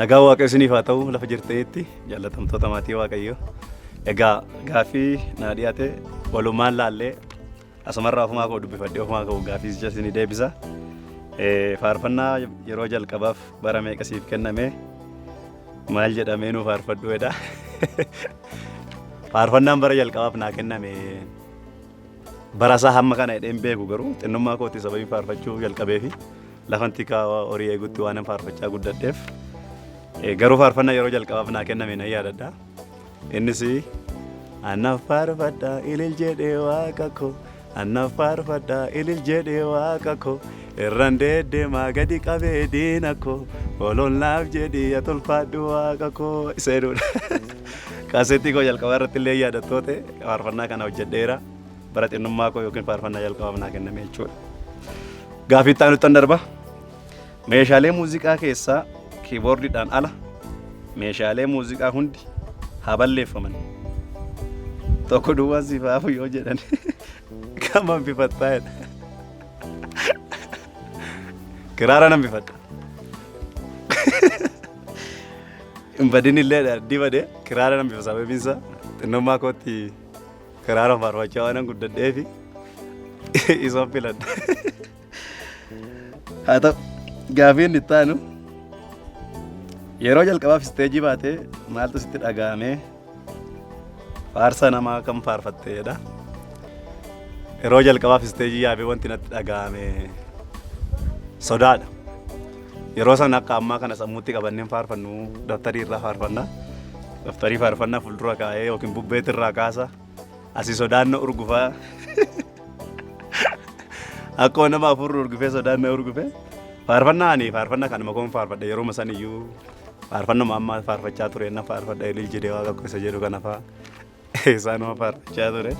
Nagaa Waaqayyo isiniif haa ta'u lafa jirtanitti jaallatamtoota maatii Waaqayyo. Egaa gaaffii naa dhiyaate walumaan laallee asumarraa ofumaa koo dubbifadhee ofumaa koo gaaffii jecha isinii deebisa. Eh, Faarfannaa yeroo jalqabaaf bara meeqa siif kenname maal jedhamee nuu faarfadhu jedha. Faarfannaan bara jalqabaaf naa kenname Barasaa hamma kana hidheen beeku garuu xinnummaa kootti sababii faarfachuu jalqabee fi lafan tikaa horii eegutti waanan faarfachaa guddadheef garuu faarfannaa yeroo jalqabaaf naa kenname nan yaadadha. Innis annaaf faarfadha ilil jedhee waaqa koo annaaf faarfadha ilil jedhee waaqa koo Irran deeddeemaa gadi qabee diina koo ololnaaf jedhii ati ulfaadhu waaqa koo isa jedhudha. Kaaseettii koo jalqabaa irratti illee yaadattoota faarfannaa kana hojjedheera. Bara xinnummaa koo yookiin faarfannaa jalqabaaf naa kenname jechuudha. Gaafii itti aanuttan darba. Meeshaalee muuziqaa keessaa kiiboordiidhaan ala meeshaalee muuziqaa hundi haa balleeffaman. Tokko duwwaan siif haafu yoo jedhan Kam hambifattaa jedha. Kiraara nan bifadha. Hin badin illee addii badee kiraara nan bifa sababiin isaa xinnummaa kootti kiraara faarfachaa waan guddadheefi isa filadha. Haa ta'u gaafii inni itti aanu yeroo jalqabaaf isteejii baatee maaltu sitti dhaga'ame faarsa namaa kan faarfatteedha. Yeroo jalqabaaf isteejii yaabee wanti natti dhaga'ame sodaadha. Yeroo sana akka ammaa kana sammuutti qabanneen faarfannu daftarii irraa faarfanna. Daftarii faarfannaa fuuldura kaa'ee yookiin bubbeetti irraa kaasa. Asi sodaanna urgufaa. Akkuma nama afurri urgufee sodaanna urgufe. Faarfannaa ani faarfannaa kanuma koon faarfadha yeroo san iyyuu faarfannuma amma faarfachaa ture na faarfadha ilil jedhee waaqa koo isa jedhu kana faa isaanuma faarfachaa ture.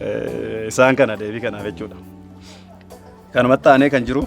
Eh, Isaan kana deebii kanaaf jechuudha. Kanumatti aanee kan jiru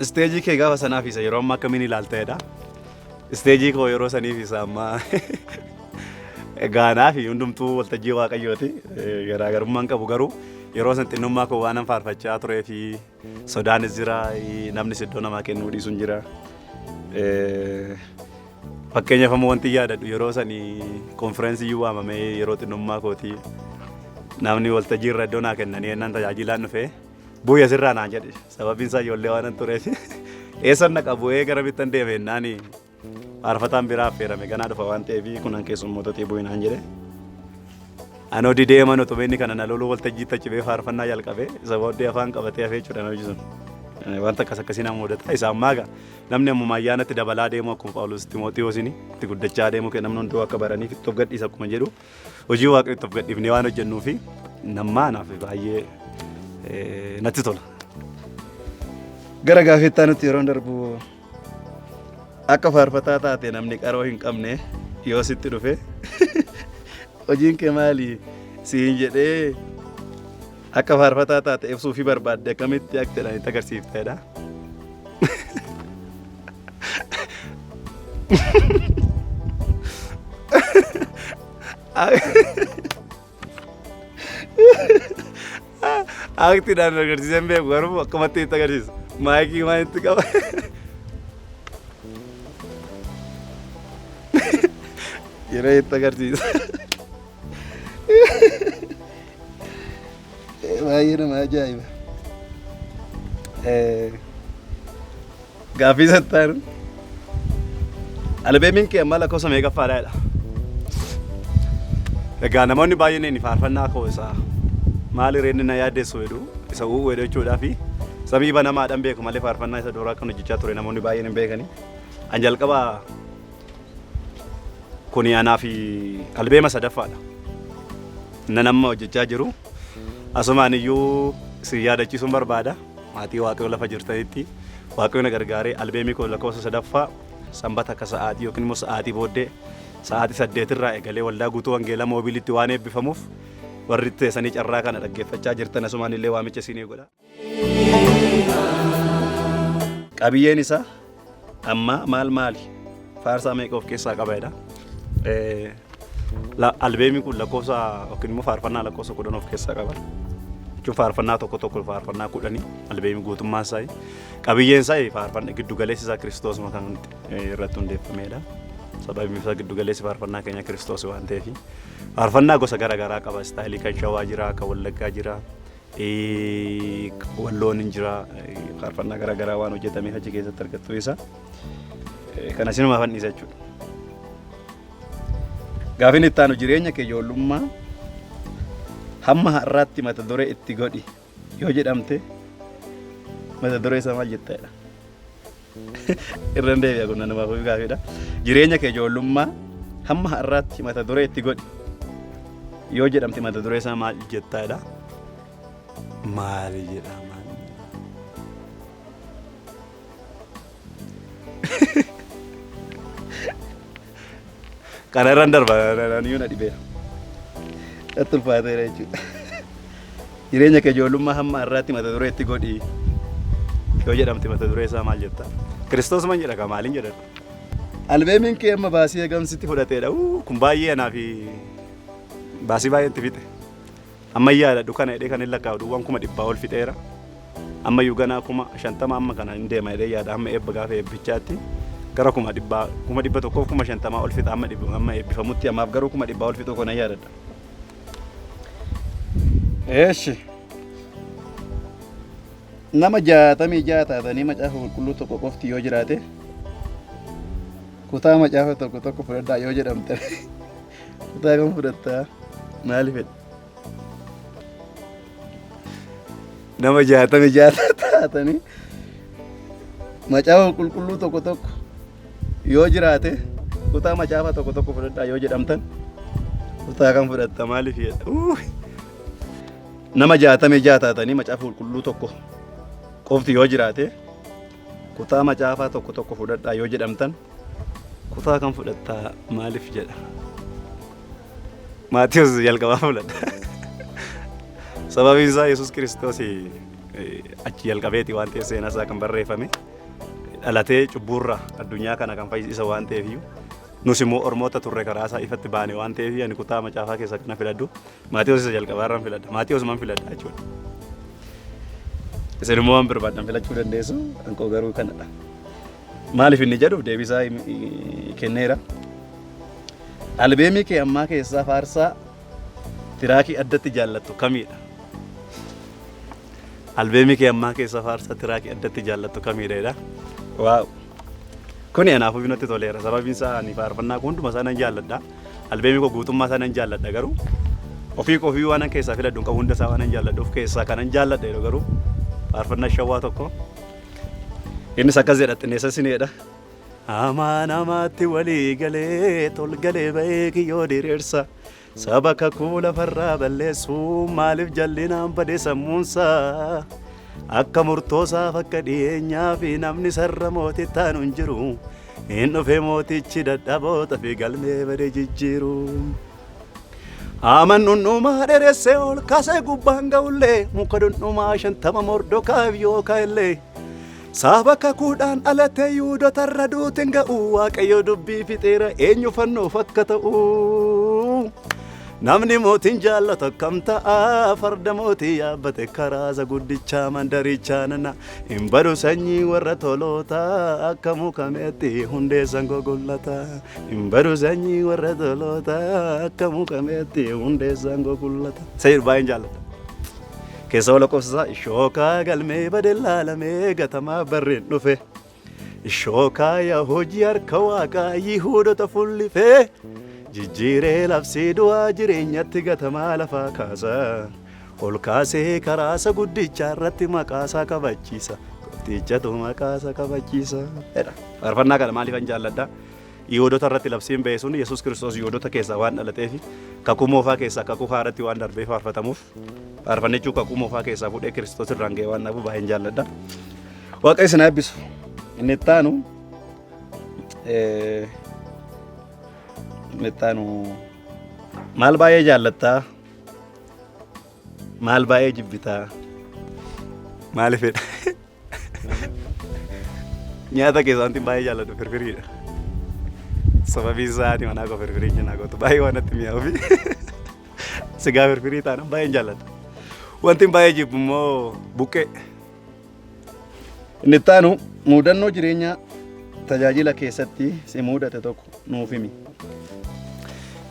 isteejii kee gaafa sanaa fi isa yeroo ammaa akkamiin ilaalteedha. Isteejii koo yeroo sanii fi isa ammaa gaanaa fi hundumtuu waltajjii waaqayyooti. Eh, Garaagarummaan qabu garuu yeroo san xinnummaa koo waanan faarfachaa turee fi sodaanis jira. eh, Namnis iddoo namaa kennuu dhiisuun jira. Eh, Fakkeenyaaf ammoo wanti yaadadhu yeroo sanii konfiraansii iyyuu waamamee yeroo xinnummaa kooti namni waltajjii irra iddoo naa kennanii ennaan tajaajilaan dhufee Bu'ii asirraa naan jedhe sababiin isaa ijoollee waan tureef eessan naqa bu'ee gara bittan deeme jennaan faarfataan biraa affeerame ganaa dhufa waan ta'eef kunan keessummootatti bu'ii naan jedhe. Anoo didee mana utuma inni kana na loluu waltajjii tachibee faarfannaa jalqabee isa booddee afaan qabatee hafee jechuudha na hojjetan. Wanta akkas akkasii nama mudata isa ammaa egaa namni ammuma ayyaanatti dabalaa deemu akkuma Phaawulos Ximootiyoosiin itti guddachaa deemu kee namni hunduu akka baraniif itti of gadhiisa akkuma jedhu. Hojii Waaqayyootti of gadhiifnee waan hojjennuu fi nammaa naaf baay'ee eh, natti tola. Gara gaafettaa nutti yeroo darbu akka faarfataa taate namni qaroo hin qabne yoo sitti dhufe hojiin kee maali siin jedhee Akka faarfataa taate ibsuu fi barbaadde akkamitti aktiidhaan itti agarsiifteedha. Aktiidhaan agarsiiseen beeku garuu akkamatti itti agarsiisa. Maayikii waan itti qaba. Yeroo itti agarsiisa. Baay'ee nama ajaa'iba. Gaaffii sattaan albeemiin kee amma lakkoofsa meeqaffaadha jedha. Egaa namoonni baay'een inni faarfannaa koo isa maali reenni na yaaddeessu jedhu isa uuu jedhu jechuudhaa fi samii banamaadhaan beeku malee faarfannaa isa duraa kan hojjechaa ture namoonni baay'een hin beekani. An jalqaba Kuni anaa fi albeema sadaffaadha. Nan amma hojjechaa jiru. Asumaan iyyuu si yaadachiisuun barbaada. Maatii Waaqayyoo lafa jirtanitti Waaqayyoo na gargaaree albeemii koo lakkoofsa sadaffaa sanbata akka sa'aatii yookiin immoo sa'aatii booddee sa'aatii saddeetirraa eegalee waldaa guutuu wangeelaa moobiilitti waan eebbifamuuf warri teessanii carraa kana dhaggeeffachaa jirtan asumaan illee waamicha isinii godha. Qabiyyeen isaa ammaa maal maali? Faarsaa meeqa of keessaa qaba jedha. Eh, la- Albeemii kun lakkoofsa yookiin immoo faarfannaa lakkoofsa kudhan of keessaa qaba. Jechuun faarfannaa tokko tokko faarfannaa kudhanii albeemii guutummaa isaa qabiyyeen isaa faarfannaa giddugaleessi isaa kiristoos kan eh, irratti hundeeffamedha. Sababiin isaa giddugaleessi faarfannaa keenya kiristoos waan ta'eef faarfannaa gosa garaagaraa qaba. Istaayilii kan shawaa jira, kan wallaggaa jira, Walloon hin jira. Faarfannaa garaa garaa waan hojjetameef achi keessatti argattu isa. Kana sinumaaf handhiisa jechuudha. Gaafin itti aanu jireenya kee ijoollummaa hamma har'aatti mata duree itti godhi yoo jedhamte mata duree isaa maal jettedha? Irran deebi'a kun nanumaaf ofii gaafeedha. Jireenya kee ijoollummaa hamma har'aatti mata duree itti godhi. Yoo jedhamte mata duree isaa maal jettaadha? Maali jedhama? Kana irraan darba yoo na dhibeera. Natti ulfaateera jechuudha. Jireenya kee ijoollummaa hamma har'aatti mata duree itti godhi yoo jedhamte mata duree isaa maal jetta? Kiristoos man jedha kaa maaliin jedhan? Albeemiin kee amma baasii eegamsitti fudhateedha. Kun baay'ee anaa fi baasii baay'ee itti fixe. Ammayyaadha dukana jedhee kan hin lakkaa'u duwwaan kuma dhibbaa ol fixeera. Ammayyuu ganaa kuma shantama amma kana hin deema jedhee yaada hamma eebba gaafa eebbichaatti gara kuma dhibbaa kuma dhibba tokkoof kuma shantamaa ol fixa amma dhibba amma eebbifamutti ammaaf garuu kuma dhibbaa ol fixuu kana yaadadha. Eeshi nama jaatamii ja'a taatanii macaafa qulqulluu tokko qofti yoo jiraate kutaa macaafa tokko tokko fudhadhaa yoo jedhamte Kutaa kam fudhatta? Maali fedha? Nama jaatami jaata taatanii macaafa qulqulluu tokko tokko yoo jiraate kutaa macaafa tokko tokko fudhadhaa yoo jedhamtan kutaa kam fudhatta maaliif jedha? Uuuy! Nama jaatami jaata taatanii macaafa qulqulluu tokko qofti yoo jiraate kutaa macaafaa tokko tokko fudhadhaa yoo jedhamtan Kutaa kan fudhatta maaliif jedha? Maatiyus jalqabaa fudhadha. Sababiin isaa Yesuus Kiristoos achi jalqabeeti waan ta'eef seenaa isaa kan barreeffame dhalatee cubbuurra addunyaa kana kan fayyisa waan ta'eef iyyuu nus immoo ormoota turre karaa isaa ifatti baane waan ta'eef ani kutaa macaafaa keessa kana filadhu Maatiyus isa jalqabaa irraan filadha Maatiyus man filadha jechuudha. Isin immoo waan barbaadan filachuu dandeessu kan koo garuu kanadha. Maaliif inni jedhuuf deebisaa kenneera. Albeemii kee ammaa keessaa faarsaa tiraakii addatti jaallattu kamiidha? Albeemii kee ammaa keessaa faarsaa tiraakii addatti jaallattu kamiidha jedha. Waaw! Kuni anaaf ofii natti toleera. Sababiin isaa ani faarfannaa koo hunduma isaa nan jaalladha. Albeemii koo guutummaa isaa nan jaalladha garuu ofii koo ofii waan keessaa filadhu hin qabu hunda isaa waan nan jaalladhuuf keessaa kanan jaalladha jedhu garuu faarfannaa shawwaa tokko Innis akkas jedha xinneessa sineedha. Amaa namaatti walii galee tolgalee ba'ee kiyyoo diriirsa. Saba kakuu lafarraa balleessuu maaliif jallinaan bade sammuunsa. Akka murtoosaaf akka dhiyeenyaa fi namni sarra mootii taanu hin jiru. Hin dhufe mootichi dadhaboota fi galmee bade jijjiiru. Haaman dhundhumaa dheresse ol kaasee gubbaan ga'ullee muka dhundhumaa shantama mordokaaf yoo ka'ellee saaba kakuudhaan dhalatee yuudota irra duutin ga'u waaqayyo dubbii fixeera eenyu fannoof akka ta'u namni mootiin jaallatu akkam ta'a farda mootii yaabbate karaaza guddichaa mandarichaa nana Hin badu sanyii warra toloota akka muka meexxi hundeessan gogullata. Hin badu sanyii warra toloota akka muka meexxi hundeessan gogullata. Sayir baay'een jaalladha. Keessa wal lakkoofsisaa ishookaa galmee bade laalamee gatamaa barreen dhufe. Ishookaa yaa hojii harka waaqaa yihuudota fullifee jijjiiree labsii du'aa jireenyatti gatamaa lafaa kaasa. Ol kaasee karaasa guddichaarratti maqaasaa kabachiisa. Gooftichatu maqaasa kabachiisa. Jedha. Faarfannaa kana maaliifan jaalladha? Yihuudota irratti labsiin ba'e sun Yesuus Kiristoos Yihuudota keessaa waan dhalateef kakuu moofaa keessaa kakuu haaraatti waan darbee faarfatamuuf faarfannichuu kakuu moofaa keessaa fuudhee Kiristoos irraan ga'e waan dhabu baay'een jaalladha. Waaqayyo isin eebbisu. Inni itti aanu inni itti aanu maal baay'ee jaallattaa? Maal baay'ee jibbitaa? Maalifidha? Nyaata keessaa wanti baay'ee jaalladhu firfiriidha. Sababiin isaa ati manaa koo firfirii cinaa gootu baay'ee waan natti mi'aawu fi sigaa firfirii taana baay'een jaalladha. Wanti baay'ee jibbu immoo buqqee. Inni itti aanu muudannoo jireenyaa tajaajila keessatti si muudate tokko nuuf himi.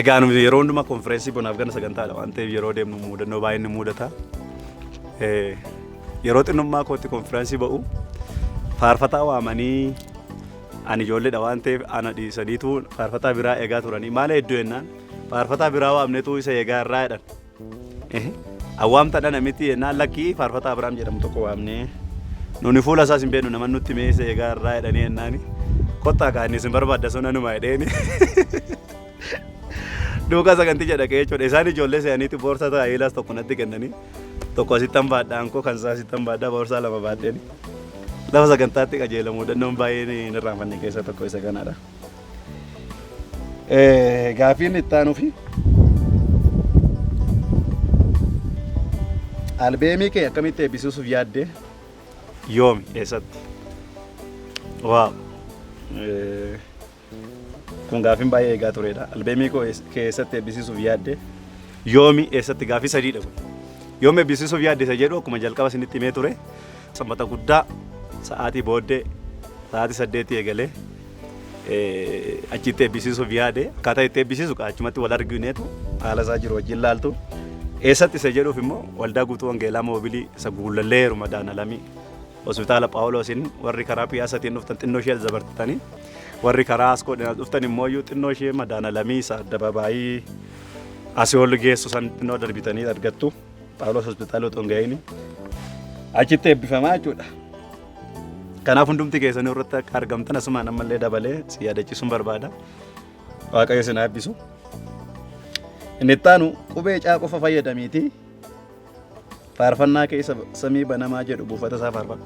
Egaa nuti yeroo hundumaa konfireensii bonaaf ganna sagantaadha waan ta'eef yeroo deemnu muudannoo baay'een nu muudata. Eh, Yeroo xinnummaa kootti konfireensii ba'u faarfataa waamanii ani ijoolleedha waan ta'eef ana dhiisaniitu faarfataa biraa eegaa turanii maala hedduu jennaan faarfataa biraa waamneetu isa eegaa irraa jedhan Awwaamta dhana miti yennaan lakkii faarfataa Abiraam jedhamu tokko waamnee nuni fuula isaas hin beeknu naman nutti mee isa eegaa irraa jedhanii yennaani kottaa kaa inni isin barbaadda sun anuma jedheeni duukaa saganticha dhaqee jechuudha isaan ijoollee se'aniiti boorsaa taayilaas tokko natti kennanii tokko asittan baadhaa ankoo kan isaa asittan baadhaa boorsaa lama baadheeni lafa sagantaatti qajeelamu dandoon baay'een hin irraanfanne keessa tokko isa kanadha. Eh, Gaafiin itti aanuufi albeemii kee akkamitti eebbisiisuuf yaadde yoomi eessatti? Waaw! Eh, Kun gaafiin baay'ee eegaa turedha. Albeemii koo ees- kee eessatti eebbisiisuuf yaadde yoomi eessatti gaafii sadiidha kun. Yoom eebbisiisuuf yaadde isa jedhu akkuma jalqaba isinitti himee ture. Sanbata guddaa sa'aatii booddee sa'aatii saddeetii eegalee achitti eebbisiisuuf yaade akkaataa itti eebbisiisu achumatti wal argineetu haala isaa jiru wajjin laaltu eessatti isa jedhuuf immoo waldaa guutuu wangeelaa moobilii isa guullallee heeruma daanalamii hospitaala phaawuloosiin warri karaa piyaasatiin dhuftan xinnoo ishee alzabartitanii warri karaa askoodhaan dhuftan immoo iyyuu xinnoo ishee madaanalamii isa addabaabaayii asihoolli geessu san xinnoo darbitanii argattu. Phaawulos hospitaala otoo hin ga'iin achitti eebbifamaa jechuudha. Kanaaf hundumti keessanii irratti akka argamtan asumaan ammallee dabalee si yaadachiisuun barbaada. Waaqayyo isin haa eebbisu. Inni itti aanu qubee caa qofa fayyadamiitii faarfannaa keessa samii banamaa jedhu buufata isaa faarfadhu.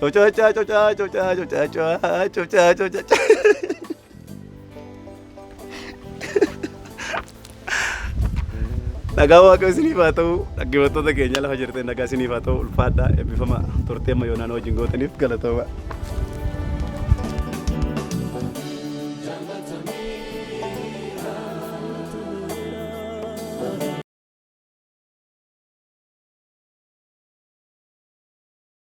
Cocacaa cocaa cocaa cocaa cocaa cocaa cocaa. Nagaa waaqayyo isiniif haa ta'u dhaggeeffattoota keenya lafa jirtan nagaa isiniif haa ta'u ulfaadhaa eebbifama turtee amma yoonaan wajjin gootaniif galatooma.